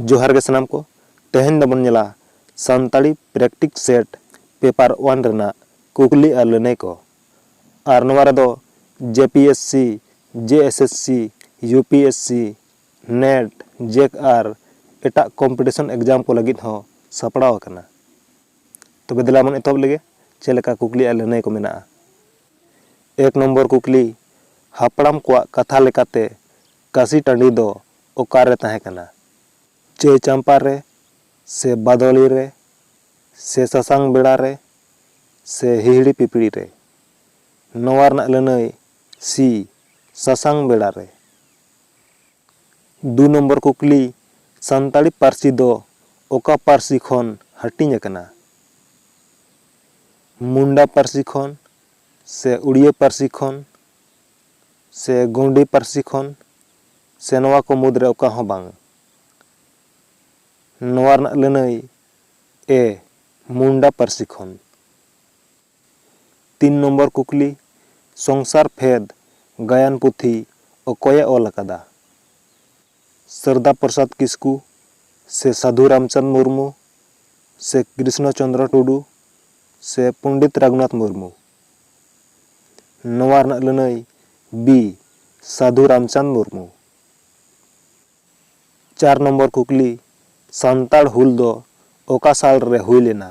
ᱡᱚᱦᱟᱨ ᱜᱮ ᱥᱟᱱᱟᱢ ᱠᱚ ᱛᱮᱦᱮᱧ ᱫᱚᱵᱚᱱ ᱧᱮᱞᱟ ᱥᱟᱱᱛᱟᱲᱤ ᱯᱨᱮᱠᱴᱤᱠ ᱥᱮᱴ ᱯᱮᱯᱟᱨ ᱚᱣᱟᱱ ᱨᱮᱱᱟᱜ ᱠᱩᱠᱞᱤ ᱟᱨ ᱞᱟᱹᱱᱟᱹᱭ ᱠᱚ ᱟᱨ ᱱᱚᱣᱟ ᱨᱮᱫᱚ J P S C J S S C U P S C NET ᱡᱮᱠ ᱟᱨ ᱮᱴᱟᱜ ᱠᱚᱢᱯᱤᱴᱤᱥᱚᱱ ᱮᱠᱡᱟᱢ ᱠᱚ ᱞᱟᱹᱜᱤᱫ ᱦᱚᱸ ᱥᱟᱯᱲᱟᱣ ᱟᱠᱟᱱᱟ ᱛᱚᱵᱮ ᱫᱮᱞᱟ ᱵᱚᱱ ᱮᱛᱚᱦᱚᱵ ᱞᱮᱜᱮ ᱪᱮᱫ ᱞᱮᱠᱟ ᱠᱩᱠᱞᱤ ᱟᱨ ᱞᱟᱹᱱᱟᱹᱭ ᱠᱚ ᱢᱮᱱᱟᱜᱼᱟ᱾ ᱮᱠ ᱱᱚᱢᱵᱚᱨ ᱠᱩᱠᱞᱤ, ᱦᱟᱯᱲᱟᱢ ᱠᱚᱣᱟᱜ ᱠᱟᱛᱷᱟ ᱞᱮᱠᱟᱛᱮ ᱠᱟᱥᱤ ᱴᱟᱺᱰᱤ ᱫᱚ ᱚᱠᱟ ᱨᱮ ᱛᱟᱦᱮᱸ ᱠᱟᱱᱟ? ᱪᱟᱹᱭ ᱪᱟᱢᱯᱟ ᱨᱮ ᱥᱮ ᱵᱟᱫᱚᱞᱤ ᱨᱮ ᱥᱮ ᱥᱟᱥᱟᱝ ᱵᱮᱲᱟ ᱨᱮ ᱥᱮ ᱦᱤᱦᱤᱲᱤ ᱯᱤᱯᱤᱲᱤ ᱨᱮ? ᱱᱚᱣᱟ ᱨᱮᱱᱟᱜ ᱞᱟᱹᱱᱟᱹᱭ, ᱥᱤ, ᱥᱟᱥᱟᱝ ᱵᱮᱲᱟ ᱨᱮ᱾ ᱫᱩ ᱱᱚᱢᱵᱚᱨ ᱠᱩᱠᱞᱤ, ᱥᱟᱱᱛᱟᱲᱤ ᱯᱟᱹᱨᱥᱤ ᱫᱚ ᱚᱠᱟ ᱯᱟᱹᱨᱥᱤ ᱠᱷᱚᱱ ᱦᱟᱹᱴᱤᱧ ᱟᱠᱟᱱᱟ? ᱢᱩᱱᱰᱟ ᱯᱟᱹᱨᱥᱤ ᱠᱷᱚᱱ ᱥᱮ ᱩᱲᱤᱭᱟᱹ ᱯᱟᱹᱨᱥᱤ ᱠᱷᱚᱱ ᱥᱮ ᱜᱚᱣᱰᱤ ᱯᱟᱹᱨᱥᱤ ᱠᱷᱚᱱ ᱥᱮ ᱱᱚᱣᱟ ᱠᱚ ᱢᱩᱫᱽ ᱨᱮ ᱚᱠᱟ ᱦᱚᱸ ᱵᱟᱝ? ᱱᱚᱣᱟ ᱨᱮᱱᱟᱜ ᱞᱟᱹᱱᱟᱹᱭ, ᱮ, ᱢᱩᱱᱰᱟ ᱯᱟᱹᱨᱥᱤ ᱠᱷᱚᱱ᱾ ᱛᱤᱱ ᱱᱚᱢᱵᱚᱨ ᱠᱩᱠᱞᱤ, ᱥᱚᱝᱥᱟᱨ ᱯᱷᱮᱫᱽ ᱜᱟᱭᱟᱱ ᱯᱩᱛᱷᱤ ᱚᱠᱚᱭᱮ ᱚᱞ ᱟᱠᱟᱫᱟ? ᱥᱟᱨᱫᱟ ᱯᱨᱚᱥᱟᱫᱽ ᱠᱤᱥᱠᱩ ᱥᱮ ᱥᱟᱫᱷᱩ ᱨᱟᱢᱪᱟᱸᱫᱽ ᱢᱩᱨᱢᱩ ᱥᱮ ᱠᱨᱤᱥᱱᱚ ᱪᱚᱸᱫᱽᱨᱚ ᱴᱩᱰᱩ ᱥᱮ ᱯᱚᱸᱰᱤᱛ ᱨᱟᱜᱷᱩᱱᱟᱛᱷ ᱢᱩᱨᱢᱩ? ᱱᱚᱣᱟ ᱨᱮᱱᱟᱜ ᱞᱟᱹᱱᱟᱹᱭ ᱵᱤ, ᱥᱟᱫᱷᱩ ᱨᱟᱢᱪᱟᱸᱫᱽ ᱢᱩᱨᱢᱩ᱾ ᱪᱟᱨ ᱱᱚᱢᱵᱚᱨ ᱠᱩᱠᱞᱤ, ᱥᱟᱱᱛᱟᱲ ᱦᱩᱞ ᱫᱚ ᱚᱠᱟ ᱥᱟᱞ ᱨᱮ ᱦᱩᱭ ᱞᱮᱱᱟ?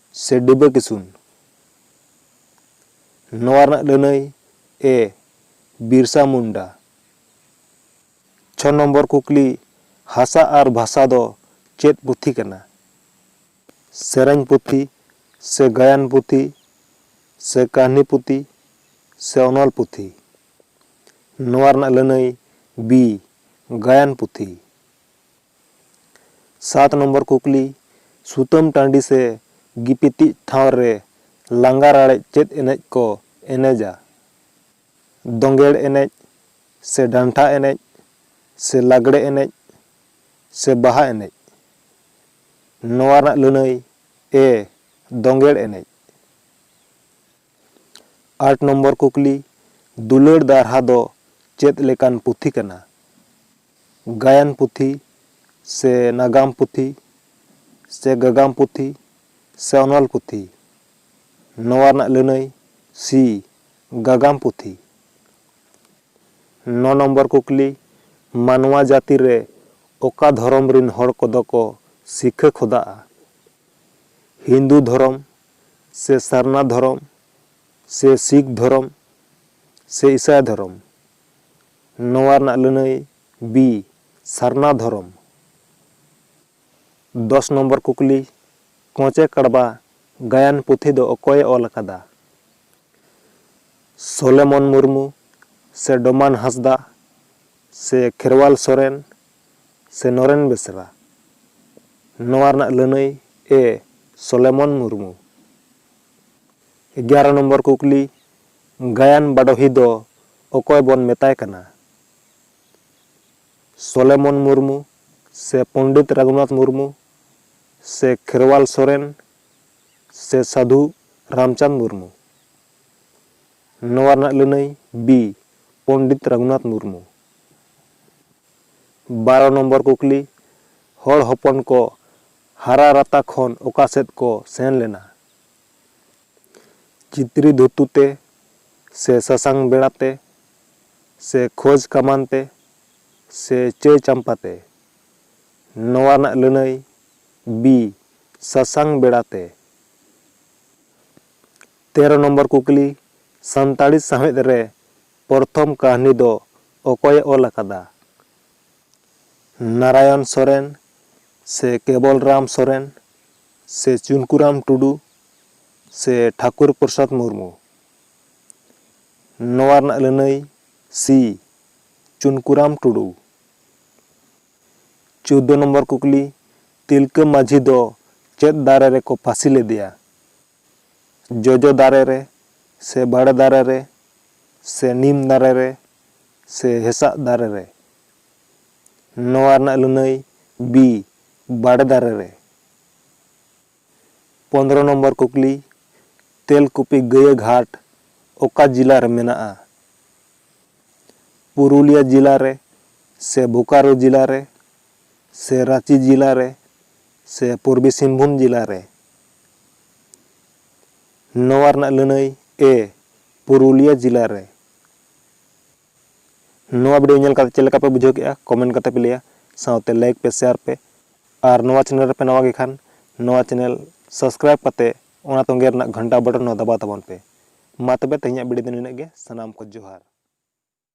ᱥᱮ ᱰᱤᱵᱟᱹ ᱠᱤᱥᱩᱱ ᱱᱚᱣᱟ ᱨᱮᱱᱟᱜ ᱞᱟᱹᱱᱟᱹᱭ ᱮ ᱵᱤᱨᱥᱟ ᱢᱩᱱᱰᱟ᱾ ᱪᱷᱚ ᱱᱚᱢᱵᱚᱨ ᱠᱩᱠᱞᱤ ᱦᱟᱥᱟ ᱟᱨ ᱵᱷᱟᱥᱟ ᱫᱚ ᱪᱮᱫ ᱯᱩᱛᱷᱤ ᱠᱟᱱᱟ? ᱥᱮᱨᱮᱧ ᱯᱩᱛᱷᱤ ᱥᱮ ᱜᱟᱭᱟᱱ ᱯᱩᱛᱷᱤ ᱥᱮ ᱠᱟᱹᱦᱱᱤ ᱯᱩᱛᱷᱤ ᱥᱮ ᱚᱱᱚᱞ ᱯᱩᱛᱷᱤ? ᱱᱚᱣᱟ ᱨᱮᱱᱟᱜ ᱞᱟᱹᱱᱟᱹᱭ ᱵᱤ ᱜᱟᱭᱟᱱ ᱯᱩᱛᱷᱤ᱾ ᱥᱟᱛ ᱱᱚᱢᱵᱚᱨ ᱠᱩᱠᱞᱤ, ᱥᱩᱛᱟᱹᱢ ᱴᱟᱺᱰᱤ ᱥᱮ ᱜᱤᱯᱤᱛᱤᱡ ᱴᱷᱟᱶ ᱨᱮ ᱞᱟᱸᱜᱟ ᱨᱟᱲᱮᱡ ᱪᱮᱫ ᱮᱱᱮᱡ ᱠᱚ ᱮᱱᱮᱡᱟ? ᱫᱚᱸᱜᱮᱲ ᱮᱱᱮᱡ ᱥᱮ ᱰᱟᱱᱴᱷᱟ ᱮᱱᱮᱡ ᱥᱮ ᱞᱟᱜᱽᱲᱮ ᱮᱱᱮᱡ ᱥᱮ ᱵᱟᱦᱟ ᱮᱱᱮᱡ? ᱱᱚᱣᱟ ᱨᱮᱱᱟᱜ ᱞᱟᱹᱱᱟᱹᱭ, ᱮ, ᱫᱚᱸᱜᱮᱲ ᱮᱱᱮᱡ᱾ ᱟᱴ ᱱᱚᱢᱵᱚᱨ ᱠᱩᱠᱞᱤ, ᱫᱩᱞᱟᱹᱲ ᱫᱟᱨᱦᱟ ᱫᱚ ᱪᱮᱫ ᱞᱮᱠᱟᱱ ᱯᱩᱛᱷᱤ ᱠᱟᱱᱟ? ᱜᱟᱭᱟᱱ ᱯᱩᱛᱷᱤ ᱥᱮ ᱱᱟᱜᱟᱢ ᱯᱩᱛᱷᱤ ᱥᱮ ᱜᱟᱜᱟᱢ ᱯᱩᱛᱷᱤ ᱥᱮ ᱚᱱᱚᱞ ᱯᱩᱛᱷᱤ ᱱᱚᱣᱟ ᱨᱮᱱᱟᱜ ᱞᱟᱹᱱᱟᱹᱭ ᱥᱤ ᱜᱟᱜᱟᱢ ᱯᱩᱛᱷᱤ ᱱᱚ ᱱᱚᱢᱵᱚᱨ ᱠᱩᱠᱞᱤ ᱢᱟᱱᱣᱟ ᱡᱟᱹᱛᱤ ᱨᱮ ᱚᱠᱟ ᱫᱷᱚᱨᱚᱢ ᱨᱤᱱ ᱦᱚᱲ ᱠᱚᱫᱚ ᱠᱚ ᱥᱤᱠᱷᱟᱹ ᱠᱷᱚᱫᱟᱜᱼᱟ? ᱦᱤᱱᱫᱩ ᱫᱷᱚᱨᱚᱢ ᱥᱮ ᱥᱟᱨᱱᱟ ᱫᱷᱚᱨᱚᱢ ᱥᱮ ᱥᱤᱠᱷ ᱫᱷᱚᱨᱚᱢ ᱥᱮ ᱤᱥᱟᱭ ᱫᱷᱚᱨᱚᱢ? ᱱᱚᱣᱟ ᱨᱮᱱᱟᱜ ᱞᱟᱹᱱᱟᱹᱭ, ᱵᱤ, ᱥᱟᱨᱱᱟ ᱫᱷᱚᱨᱚᱢ᱾ ᱫᱚᱥ ᱱᱚᱢᱵᱚᱨ ᱠᱩᱠᱞᱤ, ᱠᱚᱸᱪᱮ ᱠᱟᱲᱵᱟ ᱜᱟᱭᱟᱱ ᱯᱩᱛᱷᱤ ᱫᱚ ᱚᱠᱚᱭ ᱮ ᱚᱞ ᱟᱠᱟᱫᱟ? ᱥᱚᱞᱮᱢᱚᱱ ᱢᱩᱨᱢᱩ ᱥᱮ ᱰᱚᱢᱟᱱ ᱦᱟᱸᱥᱫᱟᱜ ᱥᱮ ᱠᱷᱮᱨᱣᱟᱞ ᱥᱚᱨᱮᱱ ᱥᱮ ᱱᱚᱨᱮᱱ ᱵᱮᱥᱨᱟ? ᱱᱚᱣᱟ ᱨᱮᱱᱟᱜ ᱞᱟᱹᱱᱟᱹᱭ, ᱮ, ᱥᱚᱞᱮᱢᱚᱱ ᱢᱩᱨᱢᱩ᱾ ᱮᱜᱟᱨᱚ ᱱᱚᱢᱵᱚᱨ ᱠᱩᱠᱞᱤ, ᱜᱟᱭᱟᱱ ᱵᱟᱰᱚᱦᱤ ᱫᱚ ᱚᱠᱚᱭ ᱵᱚᱱ ᱢᱮᱛᱟᱭ ᱠᱟᱱᱟ? ᱥᱚᱞᱮᱢᱚᱱ ᱢᱩᱨᱢᱩ ᱥᱮ ᱯᱚᱱᱰᱤᱛ ᱨᱟᱜᱷᱩᱱᱟᱛᱷ ᱢᱩᱨᱢᱩ ᱥᱮ ᱠᱷᱮᱨᱣᱟᱞ ᱥᱚᱨᱮᱱ ᱥᱮ ᱥᱟᱫᱷᱩ ᱨᱟᱢᱪᱟᱸᱫᱽ ᱢᱩᱨᱢᱩ? ᱱᱚᱣᱟ ᱨᱮᱱᱟᱜ ᱞᱟᱹᱱᱟᱹᱭ ᱵᱤ, ᱯᱚᱱᱰᱤᱛ ᱨᱟᱜᱷᱩᱱᱟᱛᱷ ᱢᱩᱨᱢᱩ᱾ ᱵᱟᱨᱚ ᱱᱚᱢᱵᱚᱨ ᱠᱩᱠᱞᱤ, ᱦᱚᱲ ᱦᱚᱯᱚᱱ ᱠᱚ ᱦᱟᱨᱟᱨᱟᱛᱟ ᱠᱷᱚᱱ ᱚᱠᱟ ᱥᱮᱫ ᱠᱚ ᱥᱮᱱ ᱞᱮᱱᱟ? ᱪᱤᱛᱨᱤ ᱫᱷᱩᱛᱩ ᱛᱮ ᱥᱮ ᱥᱟᱥᱟᱝ ᱵᱮᱲᱟ ᱛᱮ ᱥᱮ ᱠᱷᱚᱡᱽ ᱠᱟᱢᱟᱱ ᱛᱮ ᱥᱮ ᱪᱟᱹᱭ ᱪᱟᱢᱯᱟ ᱛᱮ ᱱᱚᱣᱟ ᱨᱮᱱᱟᱜ ᱞᱟᱹᱱᱟᱹᱭ ᱵᱤ ᱥᱟᱥᱟᱝ ᱵᱮᱲᱟ ᱛᱮ ᱛᱮᱨᱚ ᱱᱚᱢᱵᱚᱨ ᱠᱩᱠᱞᱤ ᱥᱟᱱᱛᱟᱲᱤ ᱥᱟᱶᱦᱮᱫ ᱨᱮ ᱯᱚᱨᱛᱷᱚᱢ ᱠᱟᱹᱦᱱᱤ ᱫᱚ ᱚᱠᱚᱭ ᱮ ᱚᱞ ᱟᱠᱟᱫᱟ ᱱᱟᱨᱟᱭᱚᱱ ᱥᱚᱨᱮᱱ ᱥᱮ ᱠᱮᱵᱚᱞ ᱨᱟᱢ ᱥᱚᱨᱮᱱ ᱥᱮ ᱪᱩᱱᱠᱩᱨᱟᱢ ᱴᱩᱰᱩ ᱥᱮ ᱴᱷᱟᱠᱩᱨ ᱯᱨᱚᱥᱟᱫᱽ ᱢᱩᱨᱢᱩ ᱱᱚᱣᱟ ᱨᱮᱱᱟᱜ ᱞᱟᱹᱱᱟᱹᱭ ᱥᱤ ᱪᱩᱱᱠᱩᱨᱟᱢ ᱴᱩᱰᱩ ᱪᱳᱫᱽᱫᱚ ᱱᱚᱢᱵᱚᱨ ᱠᱩᱠᱞᱤ ᱛᱤᱞᱠᱟᱹ ᱢᱟᱹᱡᱷᱤ ᱫᱚ ᱪᱮᱫ ᱫᱟᱨᱮ ᱨᱮᱠᱚ ᱯᱷᱟᱹᱥᱤ ᱞᱮᱫᱮᱭᱟ ᱡᱚᱡᱚ ᱫᱟᱨᱮ ᱨᱮ ᱥᱮ ᱵᱟᱲᱮ ᱫᱟᱨᱮ ᱨᱮ ᱥᱮ ᱱᱤᱢ ᱫᱟᱨᱮ ᱨᱮ ᱥᱮ ᱦᱮᱸᱥᱟᱜ ᱫᱟᱨᱮ ᱨᱮ ᱱᱚᱣᱟ ᱨᱮᱱᱟᱜ ᱞᱟᱹᱱᱟᱹᱭ ᱵᱤ ᱵᱟᱲᱮ ᱫᱟᱨᱮ ᱨᱮ ᱯᱚᱱᱫᱽᱨᱚ ᱱᱚᱢᱵᱚᱨ ᱠᱩᱠᱞᱤ, ᱛᱮᱞᱠᱩᱯᱤ ᱜᱟᱹᱭᱟᱹ ᱜᱷᱟᱴ ᱚᱠᱟ ᱡᱤᱞᱟ ᱨᱮ ᱢᱮᱱᱟᱜᱼᱟ? ᱯᱩᱨᱩᱞᱤᱭᱟ ᱡᱤᱞᱟ ᱨᱮ ᱥᱮ ᱵᱳᱠᱟᱨᱳ ᱡᱤᱞᱟ ᱨᱮ ᱥᱮ ᱨᱟᱸᱪᱤ ᱡᱤᱞᱟ ᱨᱮ ᱥᱮ ᱯᱩᱨᱵᱤ ᱥᱤᱝᱵᱷᱩᱢ ᱡᱤᱞᱟ ᱨᱮ? ᱱᱚᱣᱟ ᱨᱮᱱᱟᱜ ᱞᱟᱹᱱᱟᱹᱭ, ᱮ, ᱯᱩᱨᱩᱞᱤᱭᱟ ᱡᱤᱞᱟ ᱨᱮ᱾ ᱱᱚᱣᱟ ᱵᱷᱤᱰᱤᱭᱳ ᱧᱮᱞ ᱠᱟᱛᱮ ᱪᱮᱫ ᱞᱮᱠᱟ ᱯᱮ ᱵᱩᱡᱷᱟᱹᱣ ᱠᱮᱫᱼᱟ ᱠᱚᱢᱮᱱᱴ ᱠᱟᱛᱮ ᱯᱮ ᱞᱟᱹᱭᱟ ᱥᱟᱶᱛᱮ ᱞᱟᱭᱤᱠ ᱯᱮ ᱥᱮᱭᱟᱨ ᱯᱮ ᱟᱨ ᱱᱚᱣᱟ ᱪᱮᱱᱮᱞ ᱨᱮᱯᱮ ᱱᱟᱣᱟ ᱜᱮ ᱠᱷᱟᱱ ᱱᱚᱣᱟ ᱪᱮᱱᱮᱞ ᱥᱟᱵᱥᱠᱨᱟᱭᱤᱵ ᱠᱟᱛᱮ ᱚᱱᱟ ᱛᱚᱸᱜᱮ ᱨᱮᱱᱟᱜ ᱜᱷᱟᱱᱴᱟ ᱵᱚᱴᱚᱱ ᱦᱚᱸ ᱫᱟᱵᱟᱣ ᱛᱟᱵᱚᱱ ᱯᱮ ᱢᱟ ᱛᱚᱵᱮ ᱛᱮᱦᱮᱧᱟᱜ ᱵᱷᱤᱰᱤᱭᱳ ᱫᱚ ᱱᱤᱱᱟᱹᱜ ᱜᱮ ᱥᱟᱱᱟᱢ ᱠᱚ ᱡᱚᱦᱟᱨ